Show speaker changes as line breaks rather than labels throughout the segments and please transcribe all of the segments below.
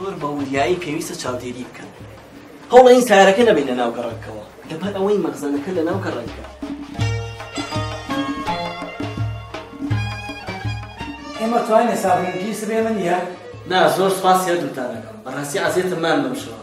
زۆر بە وریایی پێویستە چاودێری بکەن هەوڵە این سارەکە نەبین لە ناو گەڕەکەوە لەبەر ئەوەی مەخزەنەکە لە ناو گەڕەکە ئێمە
توانێ سابونی پیس بێ من یە نا زۆر سپاس
هەردووتانەکەم بەڕاستی عەزێتم مان بەم شەوە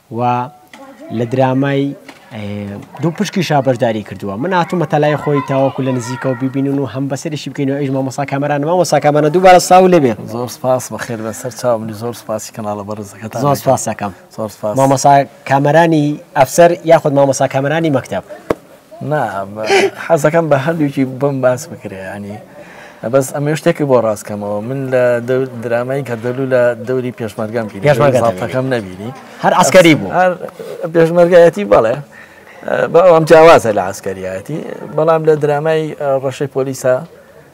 و لە درامای دوو پشکیشا بەشداری کردووە من هاتوومەتە لای خۆی تاوەکو لە نزیکەوە ببینن و هەم بەسەرشی بکەینەوە ئەویش مامۆستا کامەرانە مامۆستا کامەرانە دووبارە سڵاو لێبێ زۆر سپاس بەخێر
بەسەر چاوم بی زۆر سپاسی کەناڵە بەڕێزەکەتان زۆر دەکەم. سپاس دەکەم
زۆر سپاس مامۆستا کامەرانی ئەفسەر یاخود مامۆستا کامەرانی مەکتەب نا
حەزەکەم بە هەردووکی بم باس بکرێ ینی بەس ئەمە شتێکی بۆ ڕاستکەمەوە من لە درامای گەردەلو لە دەوری پێشمەرگەم پێشمەرگەکەم نەبیری هەر ئەسکەری بوو پێشمەرگایەتی بەڵێ بەڵام جیاوازە لە ئاسکەریەتی بەڵام لە درامای ڕەشەی پۆلیسە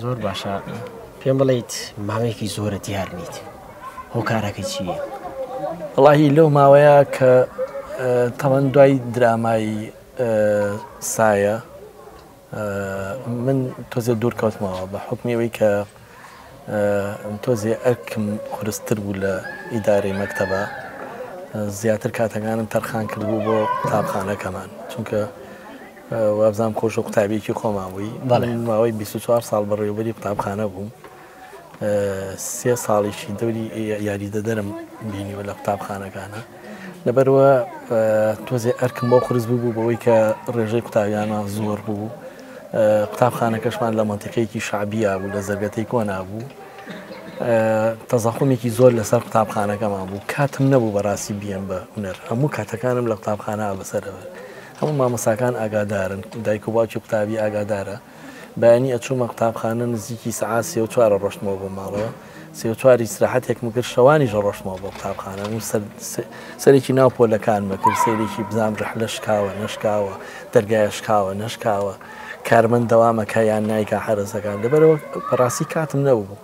زۆر باشە
پێم بڵیت ماوەیەکی زۆرە دیار نیت هۆکارەکە چیە؟ وڵی
لەو ماوەیە کە تەوەن دوای درامای سایە من تۆزێ دوورکەوتمەوە بە حکمیەوەی کە تۆزێ ئەرکم قرستر بوو لە ئیدارەی مەکتتەبە زیاتر کاتەکانم تەرخان کردبوو بۆ قوتابخانەکەمان چونکە وابزانم خۆشە قوتابیەکی خۆمان بووی بەڵێ ماوەی 24 ساڵ بەڕێوبەری قوتابخانە بووم سێ ساڵیشی دەوری یاریدەدەرم بینیوە لە قوتابخانەکانە لەبەرەوە تۆزێ ئەرکم بۆ قرس بوو بەوەی کە ڕێژەی قوتابیانە زۆر بوو قوتابخانەکەشمان لە منتیقەیەکی شعبیا بوو لە زەرگەتەی کۆنا بوو تەزاقمێکی زۆر لەسەر قوتابخانەکەمان بوو کاتم نەبوو بەڕاستی بیان بە هوەر هەموو کاتەکانم لە قوتابخانە بەسەرەوە هەموو مامۆستاکان ئاگادارن دایک و باوکی قوتابی ئاگادارە بەیانی ئەچوومە قوتابخانە نزیکی سەعات سێ و چوار ئەڕۆشتمەوە بۆ ماڵەوە سێ و چوار ئیسراحەتێکم کرد شەوانیش ئەڕۆشتمەوە بۆ قوتابخانە من سەر سەرێکی ناو پۆلەکانمە کرد سەیرێکی بزانم رەحلە شکاوە نەشکاوە دەرگایە شکاوە نەشکاوە کارمەند دەوامەکە یان نایکا حەرەسەکان لەبەرئەوە بەڕاستی کاتم نەبوو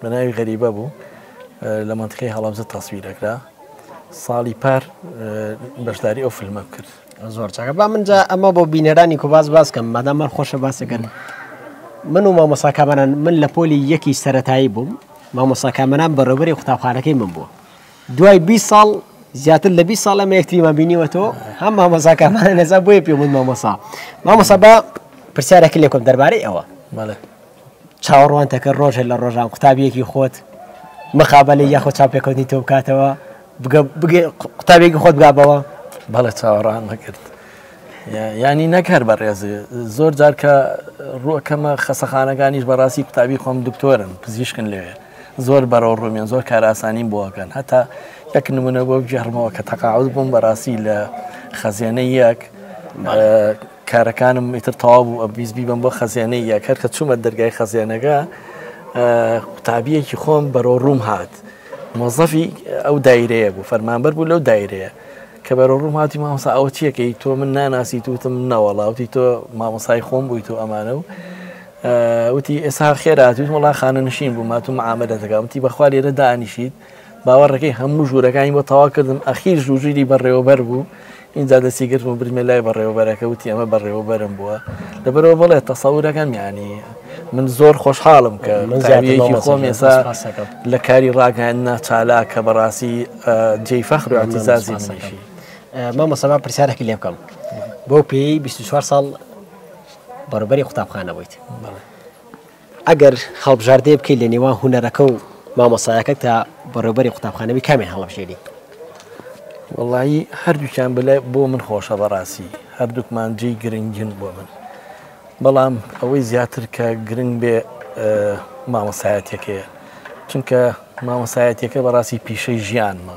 بە ناوی غەریبە بوو لە مەنتقی هەڵەبزە تەسویرەکرا ساڵی پار بەشداری ئەو فیلمە بکرد زۆر چاکە با
منجا ئەمە بۆ بینەرانی کو باز باز کەم مادام من خۆشە باسەکەن من و مامۆسا کامەران من لە پۆلی یەکی سەتایی بووم مامۆسا کامەران بەڕێوبەری قوتابخانەکەی من بووە دوای 20 ساڵ زیاتر لە 20 ساڵ ئەمە یەکتریمان بینیوەەوە هەم مامۆسا کامەران نەزا بۆیە پێ من مامۆسا مامۆسا بە پرسیارەکە لێکم دەربارەی ئەوە مەڵێت چاوەڕوانتەکە ڕۆژێ لە ڕۆژان قوتابیەکی خۆت مقابلەی یاخۆ چاوپێکەوتنی تۆ بکاتەوە قوتابێکی خۆت بگابەوە بەڵێ چاوەڕان
نەکرد ینی نەکەر بە ڕێزێ زۆر جار کە ڕوەکەمە خەسەخانەکانیش بەڕاستی قوتابی خۆم دکتۆرن پزیشکن لەوێ زۆر بەرەو ڕومێن زۆر کاراسانیم بۆکەن هەتا یەک نمونە بۆ گێڕمەوە کە تەقاعود بووم بەڕاستی لە خەزێنە یەک کارەکانم ئیتر تەواو بوو ئەمویست بیبەم بۆ خەزێنەی یەک هەر کە چوومە دەرگای خەزێنەکە قوتابیەکی خۆم بەرۆ ڕووم هات مۆزەفی ئەو دایرەیە بوو فەرمانبەر بوو لەو دایرەیە کە بەرۆ ڕووم هاتی مامۆسا ئەوە چیەکەی تۆ من ناناسی توتم نەوەڵاوتی تۆ مامۆسای خۆم بووی تۆ ئەمانە و وتی ئێسا خێراتوت وڵا خانە نشین بوو ماتوم ئامەدە دەگەمتی بەخوا لێرە دانیشیت باوەڕنەکەی هەموو ژوورەکانی بۆ تەواو کردم ئەخیر ژووری بەڕێوەبەر بوو ئینجا دەستی گرتم و بردمیە لای بەڕێوەبەرەکە وتی ئەمە بەڕێوەبەرم بووە لەبەرەوە بەڵێ تەسەورەکەم یانی من زۆر خۆشحاڵم کە زیاتەکی خۆم ئێسا لە کاری ڕاگەیاندنا چالاکە بەڕاستی جێی
فەخر و
ئەتیزازی منیشی
مامۆسەما
پرسیارێکی لێ
بکەم
بۆ
پێی 24 ساڵ بەڕبەری قوتابخانە بوویت ئەگەر هەڵبژاردەیە بکەی لە نێوان هونەرەکە و مامۆستایەکە تا بەڕێوبەری قوتابخانە بی کامیان هەڵەبژێری؟
وەڵایی هەردووکیان بەلای بۆ من خۆشە بەڕاستی هەردووکمان جێی گرنگن بۆ من بەڵام ئەوەی زیاتر کە گرنگ بێ مامەسایەتەکەیە چونکە مامەسایەتەکە بەڕاستی پیشەی ژیانمە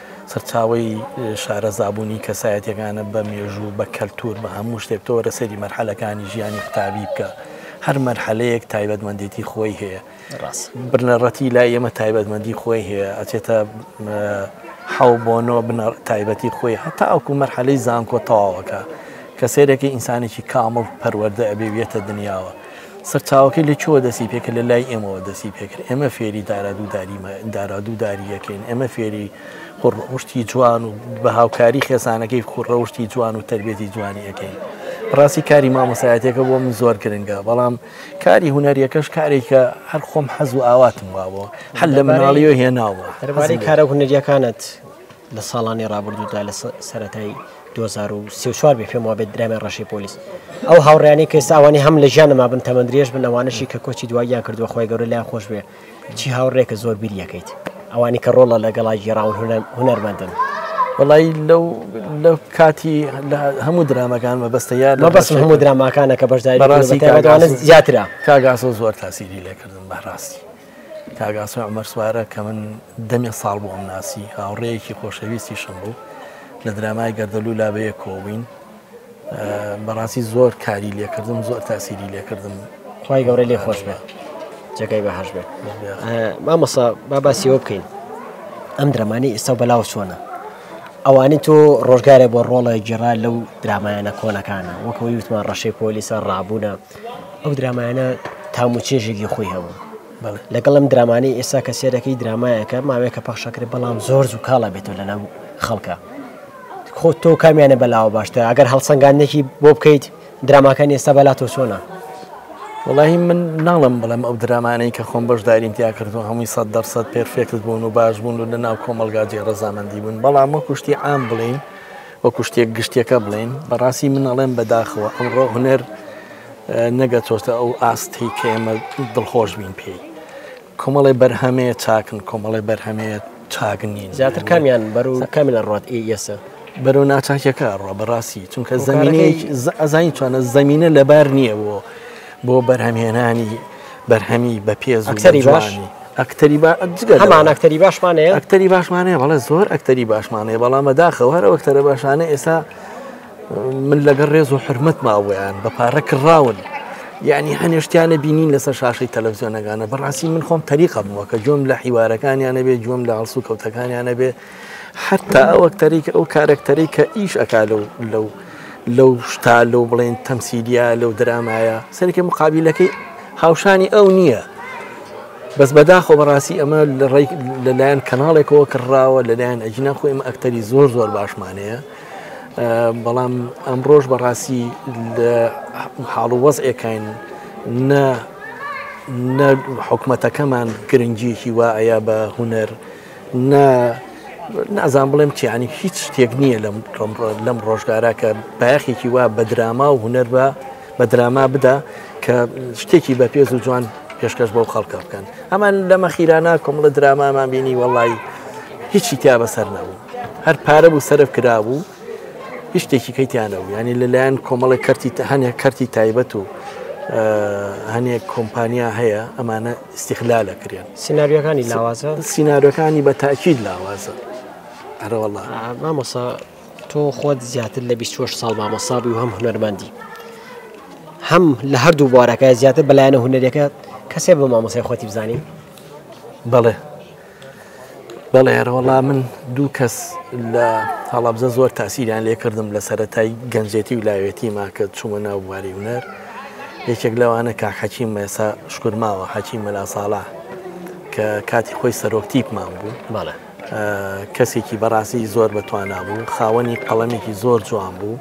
سەرچاوەی شارەزابوونی کەسایەتیەکانە بە مێژوو بە کەلتور بە هەموو شتێک تۆ وەرە سەیری مەرحەلەکانی ژیانی قوتابی بکە هەر مەرحەلەیەک تایبەتمەندێتی خۆی هەیە بنەڕەتی لای ئێمە تایبەتمەندی خۆی هەیە ئەچێتە حەو بۆنۆ بنەڕ تایبەتی خۆی هەتا ئەوکو مەرحەلەی زانکۆ تەواوەکە کە سێرەکە ئینسانێکی کامڵ پەروەەردە ئەبێویەتە دنیاوە سەرچاوەکەی لە کوێوە دەستی پێکرد لە لای ئێمەوە دەستی پێکرد ئێمە فێری دارادوودارییەکەین ئێمە فێری خوڕڕەوشتی جوان و بە هاوکاری خێزانەکەی خوڕڕەوشتی جوان و تربێتی جوانی ئەەکەین ڕاستی کاری مامۆسایەتەکە بۆ من زۆر گرنگە بەڵام کاری هوەریەکەش کارێکە هەر خۆم حەز و ئاواتم وابوو هەل لە مناڵی و هێناوە هەربارەی کارە
هوەریەکانت لە ساڵانی ڕابردوودا لە سەتای دوو هەزار و سی و چوار بێ پێم وابێت درامای ڕەشەی پۆلیس ئەو هاوڕیانەی کە ئێستا ئەوانەی هەم لە ژیانە مابن تەمەن درێژ بن ئەوانەشی کە کۆچی دواییان کردووە خۆی گەورە لایان خۆش بێ چی هاوڕێکە زۆر بیریەکەیت ئەوانی کە ڕۆڵە لەگەڵا گیێڕاون هونەرمەندن وڵی
لەو لە کاتی هەموو درامەکان مەبەستە یار لە بەس هەموو دراماکانە
کە بەشداری زیاترە کاگاسۆ زۆر
تاسیری لێکردن بەڕاستی کاک ئاسۆی عومەر سوارە کە من دەمێ ساڵ بوو ئەمناسی، هاوڕێیەکی خۆشەویستیشم بوو، لە درامای گەردەلوو لا بە یەک کۆبووین، بەڕاستی زۆر کاری لێ کردم، زۆر تاسیری لێ کردم. خوای گەورە لێی
خۆش بێ جێگای بەهەشت بێ. مامۆستا با باسی ئەوە بکەین ئەم درەمانی ئێستا و بەلاوە چۆنە؟ ئەوانی تۆ ڕۆژگارێ بۆ ڕۆڵە گیرا لەو درامایانە کۆنەکانە وەکەوەی وتمان ڕەشەی پۆلیسە ڕابوونە ئەو درامایانە تام و چێژێکی خۆی هەبوو لەگەڵ ئەم درامانەی ئێستا کە سێرەکەی درامایەکە ماوەیەکە پەخشەکرێت بەڵام زۆر زوو کاڵە بێتەوە لەناو خەڵکە خۆ تۆ کامیانە بەلاوە باشتە ئەگەر هەڵسەنگاندێکی بۆ بکەیت دراماکان ئێستا بەلا تۆ چۆنە وڵی
من ناڵم بڵێم ئەو درامانەی کە خۆم بەشداریم تیا کردو هەمووی سە دەرسەد پێرفێکت بوون و باش بوون و لە ناو کۆمەلگا جێ ڕزامەندی بوون بەڵام وە کوشتی ئام بڵین وەکو شتێک گشتیەکە بڵێین بەڕاستی من ئەڵێم بەداخەوە ئەمڕۆ هونەر نەگەتۆستە ئەو ئاستەی کە ئێمە دڵخۆش بین پێی کۆمەڵی بەرهەمەیە چاکن کۆمەڵی بەرهەمەیە چاک نین زیاتر کامیان بەرو
کامی لە ڕات ئێسە بەرەو ناچاکیەکە
ڕۆ بەڕاستی چونکە زمینەیەکی ئەزانی چۆنە زمینە لەبار نییە بۆ بۆ بەرهەمهێنانی بەرهەمی بە پێز
ئەکتەری باش
ئەکتەری هەمان
ئەکتەری باشمانەیە ئەکتەری باشمانەیە بەڵێ
زۆر ئەکتەری باشمانەیە بەڵام بەداخەوە هەر ئەکتەرە باشانە ئێستا من لەگەڵ ڕێز و حرمەت ماوەیان بە پارە کڕاون یعنی هەنێشتیانە بینین لەسەر شاشەی تەلەڤزیۆنەکانە بەڕاستی من خۆم تەریقە بووە کە جۆم لە حیوارەکانیانە بێ جۆم لە ئاسو کەوتەکانیانە بێ حەتتا ئەو ئەکتەرەی کە ئەو کارەکتەرەی کە ئیش ئەکا لەو لەو لەو شتا لەو بڵێن تەمسیلیا لەو درامایە سەرکە مقابلەکەی هاوشانی ئەو نییە بەس بەداخۆ بەڕاستی ئەمە لە ڕێک لەلایەن کەناڵێکەوە کڕراوە لەلایەن ئەجینا خۆ ئمە ئەکتەری زۆر زۆر باشمانەیە بەڵام ئەم ڕۆژ بەڕاستی لە حاڵ و وەز ئێکین نە نە حکوومەتەکەمان گرنگیەکی وایە بە هوەر نە نازان بڵێم چیانی هیچ شتێک نییە لەم لەم ڕۆژگارە کە بایەخێکی وا بە دراما و هوەر بە بە دراما بدا کە شتێکی بە پێز و جوان پێشکەش بۆ خەڵکە بکەن ئەمان لەمە خیرانە کۆمەڵە درامامان بینی وەڵی هیچی تیا بەسەر نەبوو هەر پارە بوو سەرف کرابوو هیچ شتێکی کەیتیانە و ینی لەلایەن کۆمەڵی کەرتی هەنێک کەرتی تایبەت و هەنێک کۆمپانیا هەیە ئەمانە استغلال ئەکرێن سیناریۆکانی لاوازە
سیناریۆکانی بە
تاکیید لاوازە ئەرەوەڵا مامۆسا
تۆ خۆت زیاتر لە 26 ساڵ مامۆسا بووی هەم هونەرمەندی هەم لە هەردوو بوارەکە زیاتر بەلایەنە هونەرەکە کەسێ بە مامۆسای خۆتی بزانین بەڵێ
بەڵێ ئەرەوەڵا من دوو کەس لە هەڵەبزە زۆر تاسیریان لێ کردم لە سەتای گەنجێتی و لاوێتی ماکە چوومە ناو بواری ونەر یەکێک لەوانە کاک حەچی مەسا شکرماوە حەچی مەلا ساڵا کە کاتی خۆی سەرۆکتیپمان بوو بەڵێ کەسێکی بەڕاستی زۆر بەتوانا بوو خاوەنی قەڵەمێکی زۆر جوان بوو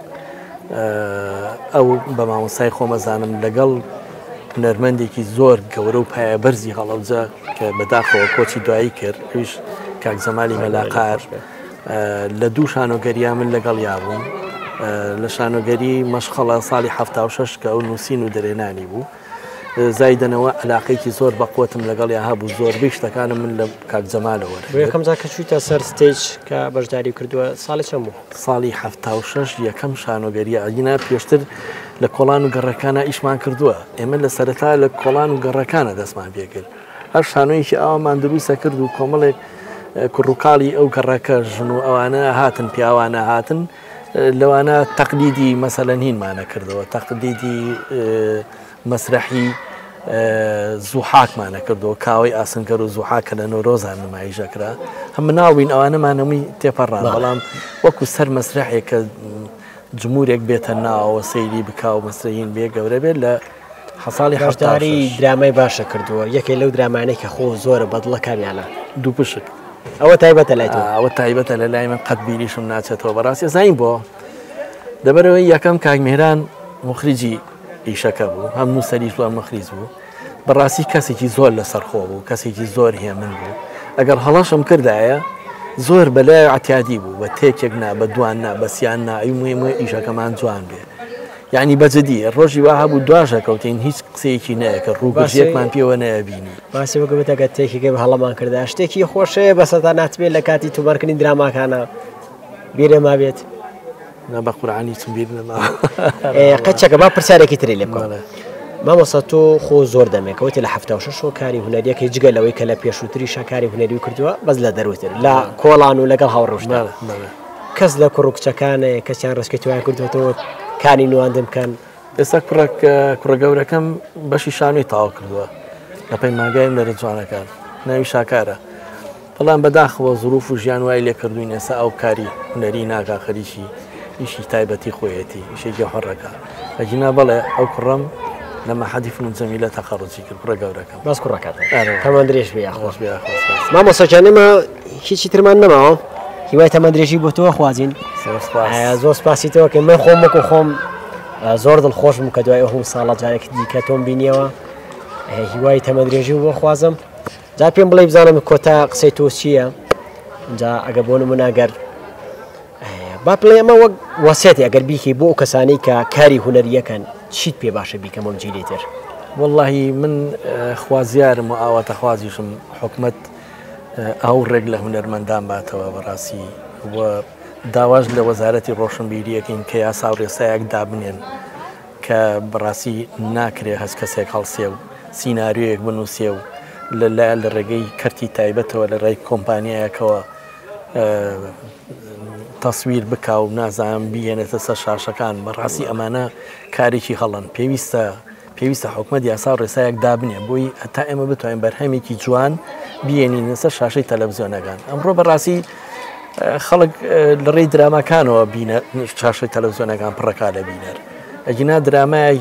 ئەو بە مامۆسای خۆمەزانم لەگەڵ هونەرمەندێکی زۆر گەورە و پایە بەرزی هەڵەبجە کە بەداخەوە کۆچی دوایی کرد ئەویش کاک جەمالی مەلاقار لە دوو شانۆگەریا من لەگەڵ یابووم لە شانۆگەری مەشخەڵە ساڵی هەفتا شش کە ئەو نووسین و درێنانی بوو زایدنەوە علاقێکی زۆر بەقوتم لەگەڵ یا هەبوو زۆر بیشتەکانم من لە کاک جەمالەوە یەکەم جا کە چوویتە
سەر ستیج کە بەشداری کردووە ساڵی چەند بوو ساڵی حەفتا و
شەش یەکەم شانۆگەریی ئاگینا پێشتر لە کۆڵان و گەڕەکانە ئیشمان کردووە. ئێمە لە سەرەتا لە کۆڵان و گەڕەکانە دەستمان پێ کرد. هەر شانۆیەکی ئاوامان درووستە کرد و کۆمەڵێک کوڕوکاڵی ئەو گەڕەکە ژن و ئەوانە هاتن پیاوانە هاتن لەوانە تەقلیدی مەسەلەن هینمانە کردەوە تەقلیدی مەسرەحی زوحاکمانە کردو کاوەی ئاسنگەر و زوحا کە لە نۆرۆزان نمایش دەکرا هەم مناڵ بووین ئەوانەمان هەمووی تێپەڕان بەڵام وەکو سەر مەسرەحێک کە جمورێک بێتە ناوەوە سەیری بکاو مەسرین بێ گەورە بێت لە حەساڵی هەشتاری
درامای باشە کردووە یەکێ لەو درامانەی کە خۆ زۆرە بەدڵەکانیانە دوو پشک
ئەوە تایبەتە
لای ئەوە تایبەتە لە لای من
قەت بیریشم ناچێتەوە بەڕاستی زین بۆ دەبەرەوەی یەکەم کاک میران مخرجی ئیشەکە بوو هەموو سەری زۆر مەخلیس بوو بەڕاستی کەسێکی زۆر لەسەر خۆ بوو کەسێکی زۆر هێمن بوو ئەگەر هەڵەشم کردایە زۆر بەلای عتیادی بوو بە تێکێک نا بە دوان نا بەسییان ناوی موێمە ئیشەکەمان جوان بێ یعنی بەجددی ڕۆژی وەها بوو دواژە کەوتین هیچ قسەیەکی نەیەکە ڕووباشێکمان پێوە نەبینی باسی وەگەبێتەکە
تێکیگە بە هەڵەمان کردا شتێکی خۆشەیە بەسەدا ناتبێت لە کاتی توبارکردنی دراماکانە بیرێما بێت. نا بە
قورعانی چم بیر نەماوە ئێ، قەچەکە
با پرسیارێکی تری لێ بکەم بەڵێ. مامۆستا تۆ خۆ زۆر دەمێکەوە تێ لە هەفتا و شەش و کاری هونەریەکەی جگە لەوەی کە لە پێشووتریشە کاری هونەری و کردووە بەس لە دەروتر لە کۆڵان و لەگەڵ هاوڕژدا بەڵێ بەڵێ کەس لە کوڕ و کچەکانە کەسیان ڕێسکی تویان کردوێتەوە کانی نواندن بکەن ئێستا کوڕێک
کوڕە گەورەکەم بەشی شانۆی تاوا کردووە لە پەیمانگای هونەرە جوانەکان ناوی شاکارە بەڵام بەداخەوە زروف و ژیان وای لێکردووین ئێستا ئەو کاری هونەری ناکا خەریکی ئیشی تایبەتی خۆیەتی ئیشی گەوهەڕەکە ئەگینا بەڵێ ئەو کوڕم لە مەحەدی فنون جەمیلە تەقەڕجی کرد کوڕە گەورەکەم باس کوڕەکەت ئەرێ.
تەمەن درێژ بێ یاخوا خۆش بێ خۆش بێ.
مامۆستا گیان ئێمە
هیچی ترمان نەماوە هیوای تەمەن درێژی بۆ تۆ ئەخوازین زۆر سوپاس. ئە، زۆر سوپاسی تۆ ئەکەین من خۆم وەکو خۆم ئە، زۆر دڵخۆش بووم کە دوای ئه و ساڵە جارێکی دیکە تۆم بینیەوە ئه، هیوای تەمەن درێژی بۆ ئەخوازم. جا پێم بڵێ بزانم کۆتا قسەی تۆ چییە جا ئەگە بۆ نمونە گەر با پڵێ ئەمە وەک وەسێتی ئەگەر بیکەی بۆ ئەو کەسانی کە کاری هوەریەکەن چیت پێ باشە بیکەم بۆم جیلی تر واللهی
من خوازیارم و ئاواتەخوازیشم حکومت ئەو ڕێک لە هوەرمەندان باتەوە بەڕاستی داواش لە وەزارەتی ڕۆشنبیریەکەین کە یاسا و ڕێسایەک دابنێن کە بەڕاستی ناکرێ هەست کەسێک هەڵسێ و سیناریۆیەک بنووسێ و لە لە لە ڕێگەی کەرتی تایبەتەوە لە ڕێی کۆمپانیایەکەوە تەسویر بکا و نازانم بیێنێتە سەر شاشەکان بەڕاستی ئەمانە کارێکی هەڵن پێویستە پێویستە حکومت یاسا و ڕێسایەک دابنێ بۆی هەتا ئێمە بتوانین بەرهەمێکی جوان بینین لەسەر شاشەی تەلەڤزیۆنەکان ئەمڕۆ بەڕاستی خەڵک لە ڕێی دراماکانەوە بینە چاشە تەلەزیۆنەکان پڕەکا لە بینەر ئەگینا درامای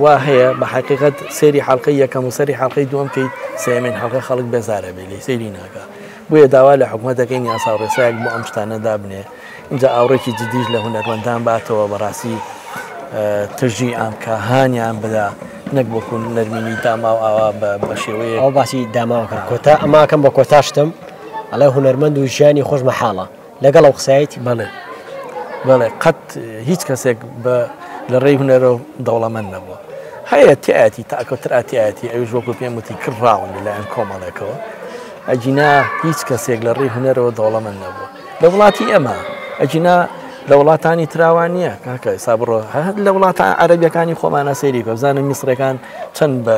وا هەیە بە حقیقت سێری حڵلقی یەکەم و سەری حڵلقی دوم کەیت سێمین حڵلقە خەڵک بێزارە بێ لی سێری ناکە بۆیە داوا لە حکوومەتەکەی یاسا ڕێسایەک بۆ ئەم شتانە دابنێ اینجا ئاوڕێکی جدیش لە هونەرمەندان باتەوە بەڕاستی تژی ئەم کە هانیان بدا نەک وەکو نەرمینی داماو ئاوا بە شێوەیە ئەو باسی داماوکە
کۆتا ئەماکەم بە کۆتاشتم ئەڵێ هونەرمەند و ژیانی خۆش مەحاڵە لەگەڵ ئەو قسایەتی بەڵێ
بەڵێ قەت هیچ کەسێک بە لە ڕێی هونەرە و دەوڵەمەند نەبووە هەیە تیاتی تاکەوتر ئاتیاتی ئەوش وەکو پێم وتی کرد ڕاون لەلایەن کۆمەڵێکەوە ئەجینا هیچ کەسێک لە ڕێی هونەرەوە دەوڵەمەند نەبووە لە وڵاتی ئەمە ئەجینا لە وڵاتانی تراوان نییە کاکە سابڕۆ هەر لە وڵاتە عەربیەکانی خۆمانە سەیری بەزانە میسرەکان چەند بە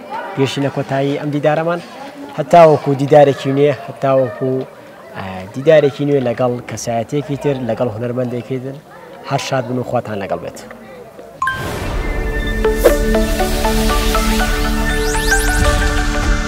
گەیشتینە کۆتایی ئەم دیدارەمان هەتاوەکو دیدارێکی نوێ هەتاوەکو دیدارێکی نوێ لەگەڵ کەسایەتێکی تر لەگەڵ هونەرمەندێکی تر هەر شاد بن و خواتان لەگەڵ بێت. Thank you.